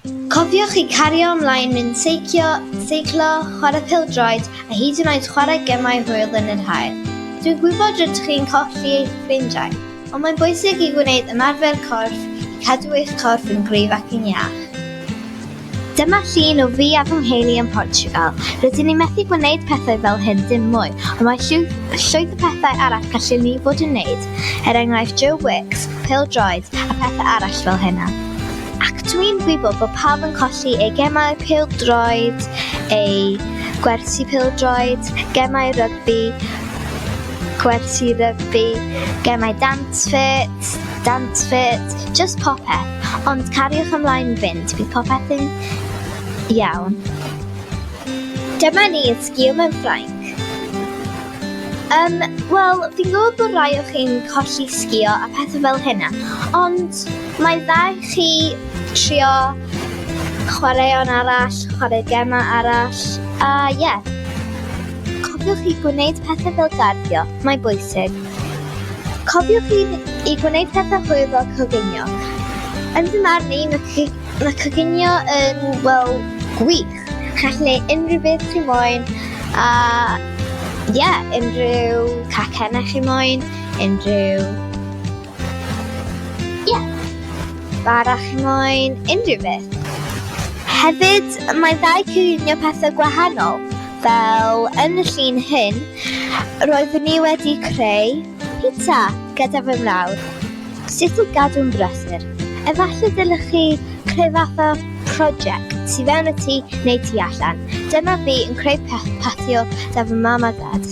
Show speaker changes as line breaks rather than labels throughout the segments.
Cofiwch i cario ymlaen mynd seicio, seiclo, chwarae pêl-droed a hyd yn oed chwarae gemau hwyl yn yr haul. Dwi'n gwybod rydych chi'n colli eich ffrindiau, ond mae'n bwysig i wneud ymarfer corff i cadw eich corff yn gryf ac yn iach. Dyma llun o fi a fy ngheulu yn Portugal. Rydyn ni methu gwneud pethau fel hyn dim mwy, ond mae llwyth o pethau arall gallu ni fod yn wneud, er enghraifft Joe Wicks, pêl-droed a phethau arall fel hynna. Ac dwi'n gwybod bod pawb yn colli ei gemau pildroed, ei gwersi pildroed, gemau rygbi, gwersi rygbi, gemau dance fit, dance fit, just popeth. Ond cariwch ymlaen fynd, bydd popeth yn iawn. Dyma ni yn sgil mewn Ffrainc. Um, Wel, fi'n gwybod bod rai o chi'n colli sgio a pethau fel hynna, ond Mae'n dda i chi trio chwaraeon arall, chwarae gemau arall, a ie. Yeah. Cofiwch i gwneud pethau fel garddio, mae'n bwysig. Cofiwch i, i gwneud pethau hwyl fel coginio. Yn fy marn i, mae, mae coginio yn, wel, gwych. Chi'n gallu gwneud unrhyw beth chi moyn, a ie, yeah, unrhyw cacennau chi moyn, unrhyw Ie. Bara chi moyn unrhyw beth. Hefyd, mae'n dda i cynllunio pethau gwahanol, fel yn y llun hyn, roeddwn ni wedi creu pizza gyda fy mrawd. Sut i gadw'n brysur? Efallai dylech chi creu fath o prosiect tu fewn y tŷ neu tu allan. Dyma fi yn creu patio 'da fy mam a dad.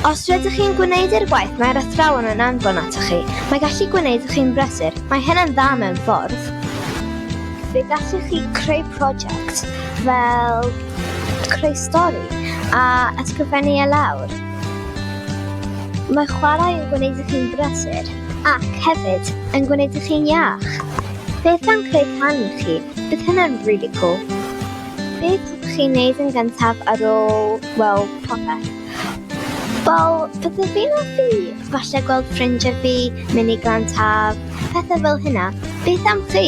Os rydych chi'n gwneud i'r gwaith mae'r athrawon yn anfon atoch chi, mae gallu gwneud chi'n brysur, mae hynna'n dda mewn ffordd. Fe gallwch chi creu prosiect fel creu stori a ysgrifennu e lawr. Mae chwarae yn gwneud i chi'n brysur ac hefyd yn gwneud i chi'n iach. Beth am creu can i chi? Bydd hynna'n really cool. Beth ydych chi'n neud yn gyntaf ar ôl weld popeth? Wel, byddaf fi'n offi falle gweld ffrindiau fi, mynd i glan taf, pethau fel hynna. Beth am chi?